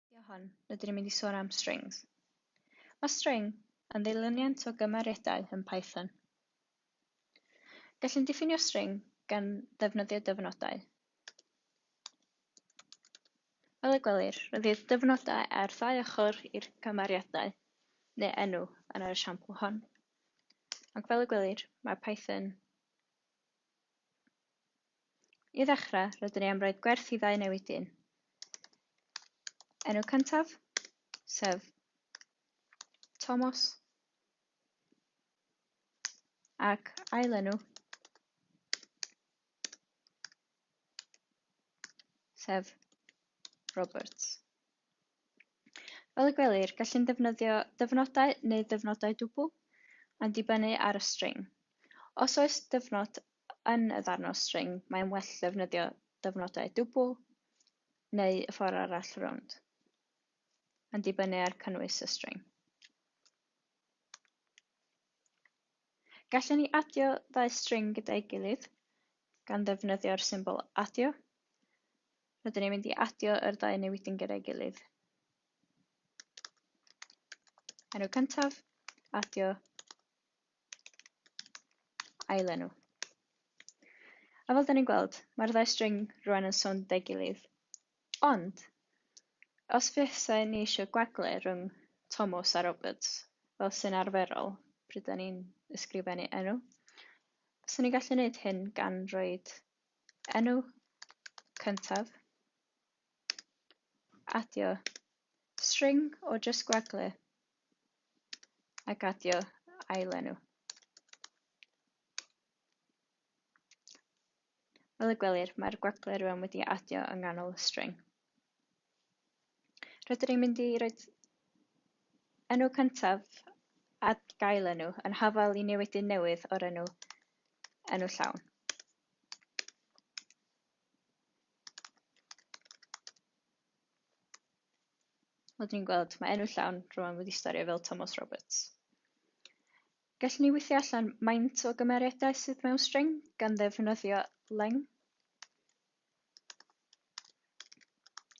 Fideo hon, rydyn ni'n mynd i sôn am strings. Mae string yn ddilyniant o gymeriadau yn Python. Gallwn diffinio string gan ddefnyddio dyfnodau. Fel y gwelir, rydyn dyfnodau ar ddau ochr i'r cymeriadau neu enw yn yr esiampl hon. Ac fel y gwelir, mae Python I ddechrau, rydyn ni am roed gwerth i ddau newid dyn. Enw cyntaf, sef Tomos, ac ailenw, sef Roberts. Fel y gwelir, gallwn ddefnyddio dyfnodau neu ddyfnodau dwbl, yn dibynnu ar y string. Os oes dyfnod Yn y ddarn o string, mae'n well ddefnyddio dyfnodau dwbl neu y ffordd arall rownd, yn dibynnu ar cynnwys y string. Gallwn ni adio ddau string gyda'i gilydd gan ddefnyddio'r symbol adio. Rydyn ni'n mynd i adio yr ddau newidyn gyda'i gilydd. Enw cyntaf, adio, ailenw. A fel da ni'n gweld, mae'r ddau string rwan yn sownd deg gilydd. Ond, os fysa ni eisiau gwagle rhwng Tomos a Roberts, fel sy'n arferol pryd da ni'n ysgrifennu enw, fysa ni'n gallu gwneud hyn gan roi enw cyntaf, adio string o jyst gwagle ac adio ailenw. Fel y gwelir, mae'r gwaglau rwan wedi adio yng nghanol y string. Rydyn ni'n mynd i roi enw cyntaf a gael enw yn hafael i newidyn newydd o'r enw enw llawn. Wel, dwi'n gweld, mae enw llawn rwan wedi stario fel Tomos Roberts. Gallwn ni weithio allan maint o gymeriadau sydd mewn string gan ddefnyddio leng.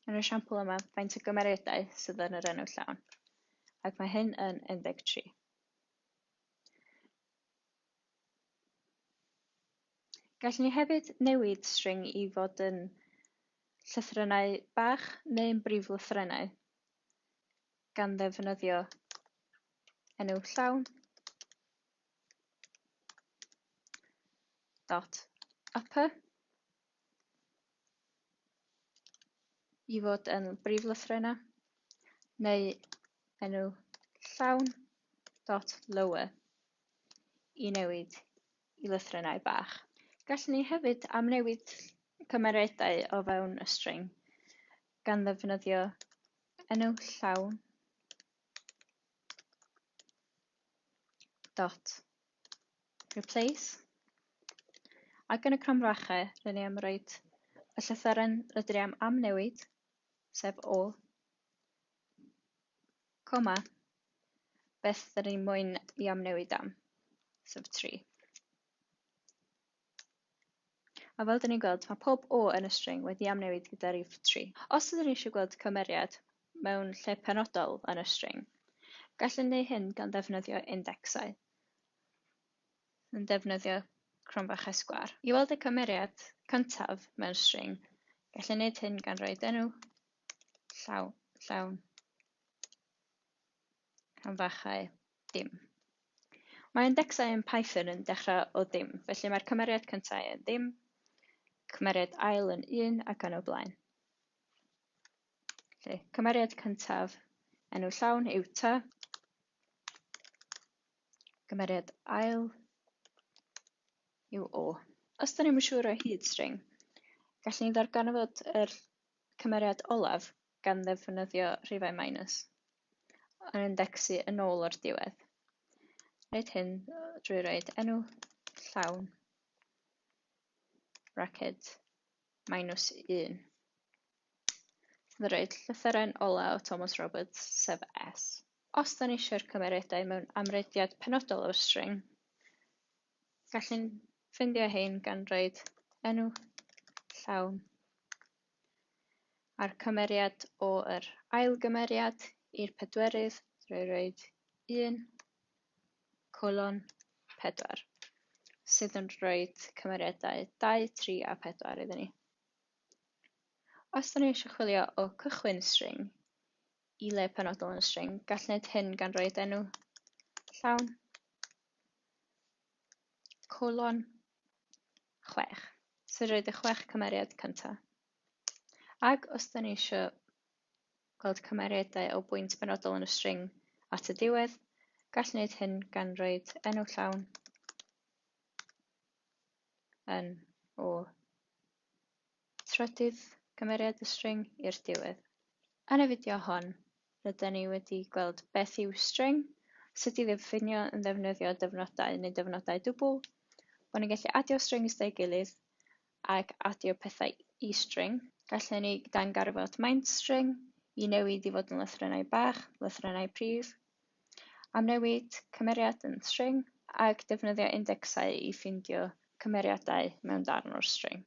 Yn y siampl yma, faint o gymeriadau sydd yn yr enw llawn, ac mae hyn yn 13. Gallwn ni hefyd newid string i fod yn llythrennau bach neu'n briflythrennau, gan ddefnyddio enw llawn dot upper i fod yn briflythrennau, neu enw llawn dot lower i newid i lythrennau bach. Gallwn ni hefyd amnewid cymeriadau o fewn y string gan ddefnyddio enw llawn dot replace ac yn y cromfrachau rydyn ni am roed y llythyren rydyn ni am amnewid, sef O, Coma. Beth da ni moyn i amnewid am? Sef 3. A fel da ni'n gweld, mae pob O yn y string wedi amnewid gyda rif 3. Os ydyn ni eisiau gweld cymeriad mewn lle penodol yn y string, gallwn neu hyn gan ddefnyddio indecsau yn defnyddio cronfach esgwâr. I weld y cymeriad cyntaf mewn string, gallwn wneud hyn gan roed enw llawn, llawn, canfachau, dim. Mae indecsau yn Python yn dechrau o ddim, felly mae'r cymeriad cyntaf yn ddim, cymeriad ail yn un ac yn y blaen. Felly, cymeriad cyntaf enw llawn yw ta, cymeriad ail yw o. Os da ni'n siŵr o hyd string, gallwn ni ddarganfod yr Y cymeriad olaf, gan ddefnyddio rhifau minus, yn indecsu yn ôl o'r diwedd. Wneud hyn drwy roed enw llawn bracket minus 1. Sydd yn roed llythyren ola o Thomas Roberts, sef S. Os da ni eisiau'r cymeriadau mewn amrediad penodol o'r string, Gallwn ffindio hein gan roed enw llawn a'r cymeriad o yr ail gymeriad i'r pedwerydd drwy roed 1 colon 4 sydd yn roed cymeriadau 2, 3 a 4 iddyn ni. Os da ni eisiau chwilio o cychwyn string i le penodol yn y string. Gall wneud hyn gan roi enw llawn, colon, 6. So roed y chwech cymeriad cyntaf. Ac os da ni eisiau gweld cymeriadau o bwynt benodol yn y string at y diwedd, gall wneud hyn gan roed enw llawn yn o Trydydd cymeriad y string i'r diwedd. Yn y fideo hon, rydyn ni wedi gweld beth yw string, sut i ddiffinio yn ddefnyddio dyfnodau neu dyfnodau dwbl, bod ni'n gallu adio strings dau gilydd ac adio pethau i string. Gallen ni dangarfod maint string i newid i fod yn lythrennau bach, lythrennau prif, Amrywid cymeriad yn string ac defnyddia indecsau i ffeindio cymeriadau mewn darn o'r string.